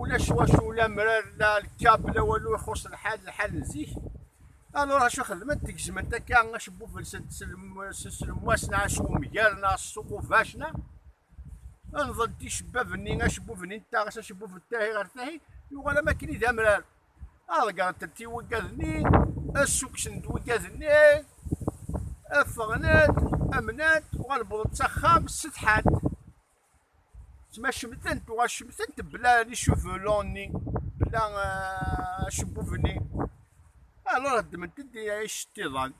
ulac wacu la mrar la lkab la walu ixuṣ lḥal lḥal n zik alur acu xedment gezment akka acebbub-nsent s lemwas neɣ s umger neɣ s uqubac neɣ nḍent icebbab-nni acebbub-nni n taɣes acebbub n tahi ɣer tahi yuɣal am akken i d amrar aḍeggren-tent i wigad-nni assukksen-d wigad-nni ffɣen-d amnant uɣal wwḍent s axxam setḥant Tma cemtent, uɣal cemtent bla li cheveux longs-nni, bla euh, acebbub-nni. Alors ddment-d iceṭṭiḍan.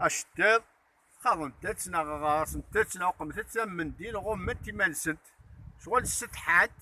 Aceṭṭiḍ, xaḍent-tt neɣ ɣaṣent-tt neɣ uqment-tt am mendil, ɣument iman-nsent. Ccɣel ssetḥant,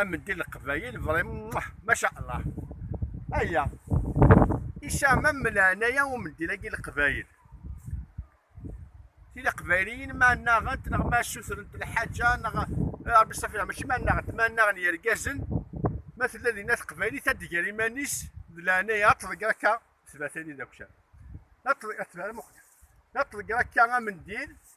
ameddi leqbayel Ibrahim Muḥ maca Allah aya isɛamam leɛnaya umeddil-agi leqbayel tili qbayliyin ma naɣent neɣ ma sutrent lḥaǧa neɣ Rabbi safi mačči ma naɣent ma naɣen yergazen ma tella dinna teqbaylit ad d-ger iman-is d leɛnaya ad tḍegger akka tbatani d akcam ad tḍegger akka amendil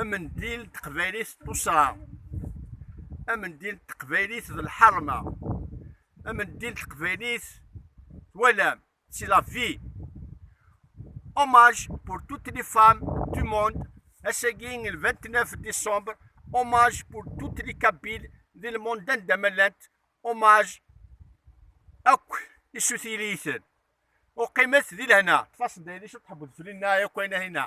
Amendil d teqbaylit d tuṣṣa. Amendil d teqbaylit d lḥerma. Amendil d teqbaylit twalam, c'est la vie. Hommage pour toutes les femmes du monde. Ass-agi le 29 décembre, hommage pour toutes les Kabyles di lmond anda ma llant. Hommage akk isutiyiliyiten. Uqimet di lehna. Tfaseḍ-d aydi cwiṭ tḥewweḍ fell-i neɣ yakk ayen-ahina?